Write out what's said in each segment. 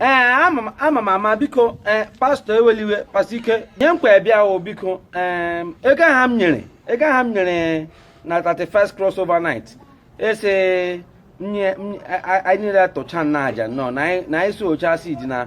ee eh, ama m ama biko ee eh, pastọ ewela iwe pastọ ike nye nkwa ebịa o biko ee eh, ego ahụ m nyere ego ahụ m nyere na 31st crossover night ị sị anyị niile tụcha na aja nọ na anyị sowchaa seed na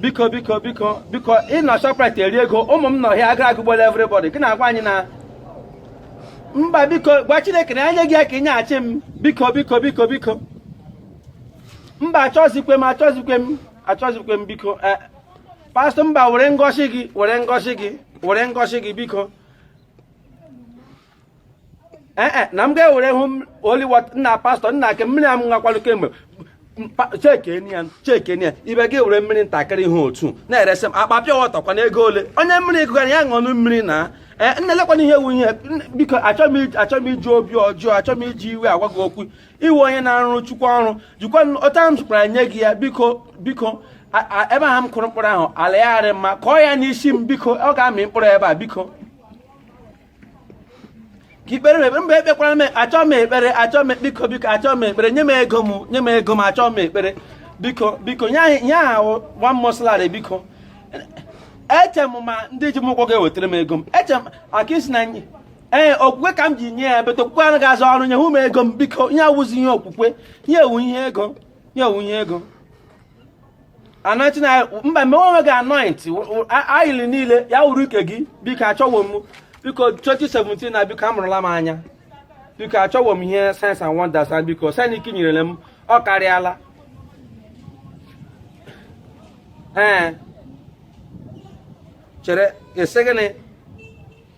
biko biko biko biko ị nọ Shoprite eri ego ụmụ m nọ here agụrụ agụgbuola everybody gị na-agwa anyị na mba biko gwa Chineke na enye gị ya ka ị nyeghachi m biko biko biko biko mba achọzikwe m achọzikwe m achọzikwe m biko eh, pastọ mba were ngọzi gị were ngọzi gị were ngọzi gị biko ee eh, eh, na m ga-ewere holy water nna pastọ nna ake mmiri a m nwakwalụ kemgbe chekenia chekenia ibe gị were mmiri ntakịrị ihe otu na-eresị m akpa pure water kwana ego ole onye mmiri gụgara ya ṅụnụ mmiri na eh, nna elekwana ihe wu ihe biko achọ m iji obi ọjọọ achọ m iji iwe agwa gị okwu ị wụ onye na-arụ chukwu ọrụ jikwa ọta m zụkwara nye gị ya biko biko ebe ahụ m kụrụ mkpụrụ ahụ ala ya arị mma kụọ ya n'isi m biko ọ ga-amị mkpụrụ ebe a biko ka ị kpeere m ekpere mba ekpekwara m achọọ m ekpere achọọ m biko biko achọọ m ekpere nye m ego m nye m ego m achọọ m ekpere biko biko nye anyị nye ahụ one month salary biko eche m ma ndị ji m ụgwọ ga-ewetara m ego m eche m aka ị sị na ee okwukwe ka m ji nye ya but okwukwe anaghị arụ ọrụ nye hụ m ego m biko ihe awụzi ihe okwukwe ihe a wụ ihe ego ihe a wụ ihe ego anointing oil mba gbaa onwe gị anointing oil niile ya wụrụ nke gị biko achọwo m biko 2017 na biko amụrụla m anya biko achọwo m ihe signs and wonders na biko sign nke nyerele m ọ karịala ee chere ị sị gịnị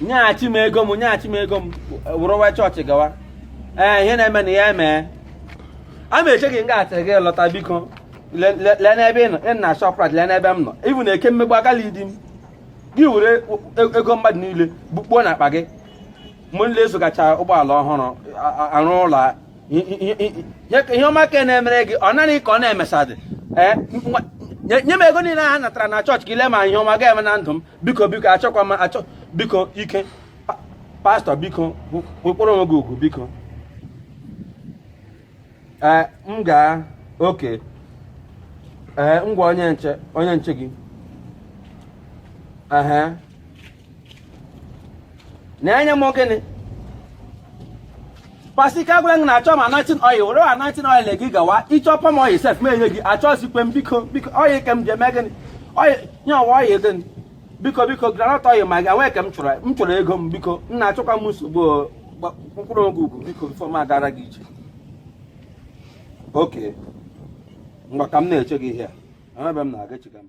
nyeghachi m ego m nyeghachi m ego m wụrụ wee chọọchị gawa ee ihe na-eme na ya emee a ma eche gị nga atịrị gị lọta biko lee n'ebe ị nọ ị nọ Shoprite lee n'ebe m nọ ịbụ na eke mmegbu agala idi m gị were e, ego mmadụ niile bukpuo na akpa gị mgbe niile azụgacha ụgbọala ọhụrụ arụ ụlọ ihe ọma ka na-emere gị ọ naghị ka ọ na-emesadị nye m ego niile ha natara na chọọchị ka ị lee ma ihe ọma ga-eme na ndụ m biko biko achọkwa m achọ biko ike pastọ biko kpọrọ onwe gị ugwu biko ee m gaa okay ee ngwa onye nche onye nche gị ehe na-enye m gịnị pastor ike agwara gị na achọ m anointing oil were anointing oil gị gawa ịchọ palm oil sef ma enye gị achọzikwe m biko biko oil ke m ji eme gịnị oil nye ọwa oil gịnị biko biko groundnut oil ma gị enwee ke m chọrọ m chọrọ ego m biko nna achọkwa m nsogbu mkpụrụ oge ugwu biko before m agara gị ije o kemgbe ka m na-eche gị ihe a ebe m na-aga echiga m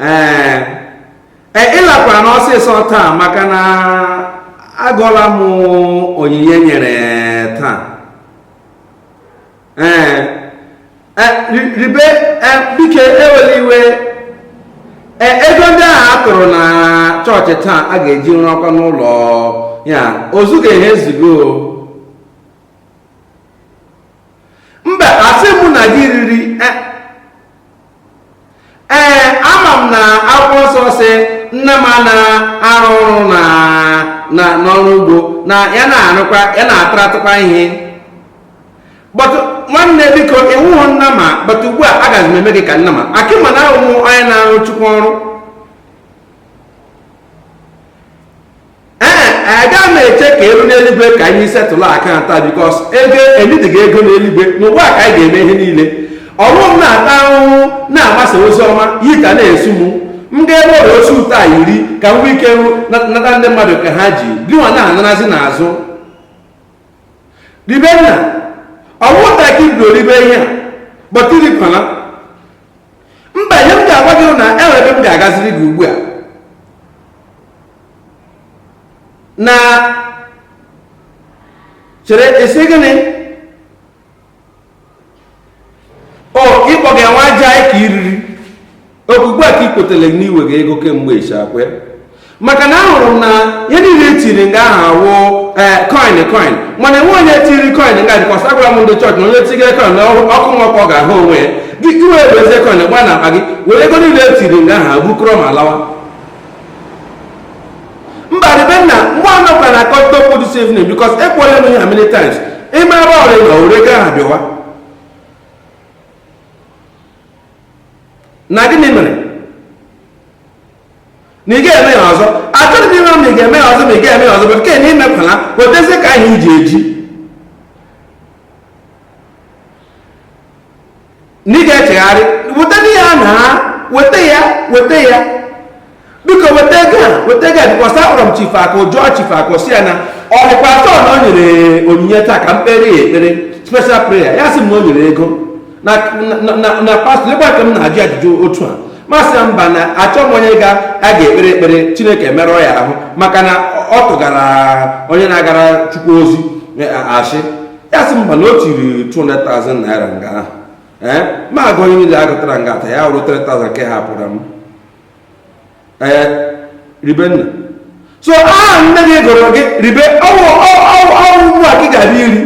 ee e, ịlakwara n'ọsịsọ taa maka na agụọla m onyinye e nyere taa ee e, reverend, biko ewela iwe ego ndị ahụ a tụrụ na chọọchị taa a ga-eji rụọkwanụ ụlọ ya ozugo ehe ozugo mba asị mụ na gị riri ee ama m na akwụkwọ nsọ sị nnama na-arụ ọrụ na na n'ọrụ ugbo na ya na-arụkwa ya na-ataratụkwa ihe but nwanne m biko ị wụhụ nnama but ugbu a agaghị m eme gị ka nnama maka m ma na ị wụ onye na-arụ chukwu ọrụ ee aga m eche ka e ruo n'eluigwe ka anyị settle account because ego enyidighị ego n'eluigwe n'ụwa ka anyị ga-eme ihe niile ọ wụ m na-ata ahụhụ na-agbasa ozi ọma yi ka na-esu m m ga-ebe ọrịa osi ụtọ a iri ka m nwee ike nata ndị mmadụ ke ha ji gịnwa na-anarazi n'azụ reverend ọ wụ taa ka i bido ribe ihe a but irikwana mba ihe m ga-agwa gị na enwere ebe m ga-agaziri gị ugbu a nna chere ị sị gịnị o ịkpọ gị nwa aja anyị ka iriri ọ kwa ugbu a ka i kwetele n'iwe gị ego kemgbe ịchakwe maka na ahụrụ m na ihe niile etiri nga ahụ awụ eh, coin coin mana enwe onye tiri coin nga dịkwasị agwara m ndị chọọchị na onye tigere coin n'ọkụ mmụọ ka ọ ga-ahụ onwe ya gị ewee wezie coin gba na akpa gị were ego niile etiri nga ahụ bukọrọ ma lawa mba reverend mgbe a nọkwa na akọta okwu this evening because ekwuola m ihe a many times ịma ebe ọrịa na ore ego ahụ bịawa na gịnị mere na ị ga-eme ya ọzọ achọrọ m ịma ma ị ga-eme ya ọzọ ma ị ga-eme ya ọzọ but nke na imekwala wetezie ka anyị ji eji na ị ga-echegharị weta ihe a na weta ya weta ya biko weta ego a weta ego a because akpọrọ m chifu akụ jụọ chifu akụ sị ya na ọ dịkwa atọ na o nyere onyinye taa ka m kpere ya ekpere special prayer ya sị m na o nyere ego na na- na- na pastọ lekwa ka m na-ajụ ajụjụ otu a m asị ya mba na achọ m onye ga a ga-ekpere ekpere chineke merụọ ya ahụ maka na ọ tụgara onye na-agara chukwu ozi eh, asị ya sị mba na o tiri 200,000 naira nga ahụ ee eh, ma a gụọ ihe niile a gụtara nga a taa ya wụrụ 3,000 nke hapụrụ m ee eh, Ribenna so aha nne gị gụrụ gị ribe ọ wụ ọ wụ ugbu a gị ga-abịa iri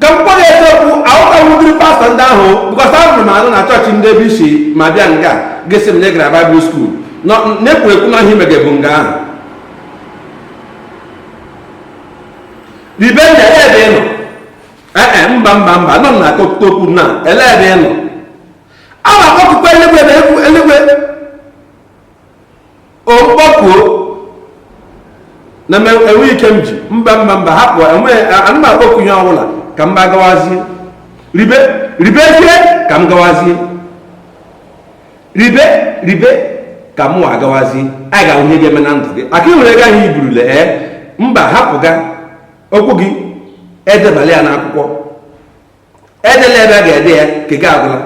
ka m kpọrọ eziokwu ahụtawudiri pastọ ndị ahụ because ahụrụ m anụ na chọọchị ndị ebe i si ma bịa nga gị sị m na ị gara Bible school na-ekwu ekwu na ihe i mege bụ nga ahụ Ribenna ele ebe ị nọ ee eh, eh, mba mba mba nọ na akọkụta okwu na ele ebe ị nọ a na-akpọkukwa eluigwe na eluigwe okpọkuo na enwe ike m ji mba mba mba hapụ ana m akpọku ihe ọbụla ka mụwa gawazie ribe ribezie ka m gawazie ribe ribe ka mụ agawazi a ga-ahụ ihe ga-eme na ndụ gị maka i nwere ego ahụ i burule ee eh? mba hapụga okwu gị edebala ya n'akwụkwọ edela ebe a ga-ede ya nke gị agwụla